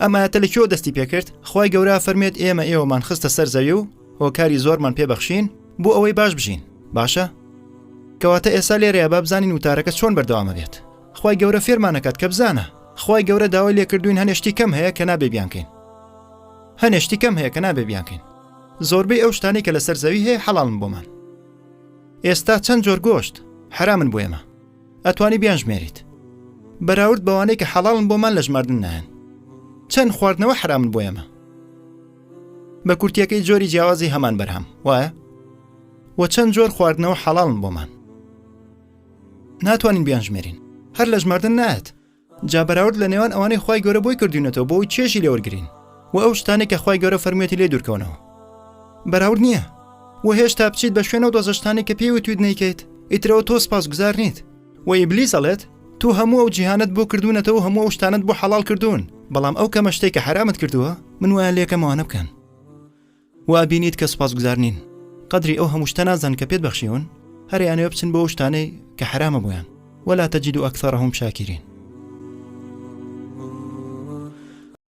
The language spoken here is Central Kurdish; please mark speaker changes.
Speaker 1: ئەم ئاەتە لە کێوە دەستی پێکرد خی گەورە فەرمێت ئێمە ئێوەمان خستە سەر زەوی و هۆکاری زۆرمان پێبەخشین بۆ ئەوەی باش بژین باشە کەواتە ئێستا لێرەیە با بزانین وتارەکە چۆن بەردەوامە بێت خی گەورە فێرمانەکات کە بزانە خی گەورە داوای لێکردوین هەنێشتی کەم هەیە کە نابێ بیانکەین هەنێشتی کەم هەیە کە نابێ بیانکەین زۆربەی ئەو شتانی کە لەسەر زەوی هەیە حەڵام بۆمان ئێستا چەند جۆر گۆشت حرامن بۆ ئێمە ئەتوانی بیانژمێریت بەراورد بەوانەی کە حەڵاڵن بۆمان لە ژماردن نایەن چەند خواردنەوە حرامن بۆ ئێمە بە کورتیەکەی جۆری جیاوازی هەمان بەرهەم وایە وە چەند جۆر خواردنەوە حەڵاڵن بۆمان ناتوانین بیانژمێرین هەر لە ژماردن نایەت جا بەراورد لە نێوان ئەوانەی خوای گەورە بۆی کردوینەتەوە بۆ ئەوی چێژی لێوەرگرین و ئەو شتانەی کە خوای گەورە فەرموێتی لێ دوورکەونەوە بەراورد نییە و هێشتا بچیت بە شوێنەوە دۆزەشتانی کە پێی وتویت نیکەیت ئیترەوە تۆ سپاس گوزار نیت و ئیبلیس ئەڵێت تو هەموو ئەو جیهانت بۆ کردوونەتەوە هەموو ئەو شتانت بۆ حەڵال کردوون بەڵام ئەو کەمە شتەی کە حەرامت کردووە من وایان لێکەمەوانە بکەن و ئەبینیت کە سوپاسگوزار نین قەدری ئەو هەموو شتە نازان کە پێت بەخشیون هەر ئەیانەوێ بچن بۆ ئەو شتانەی کە حەرامە بۆیان ولا تجد اکثرهم شاکرین.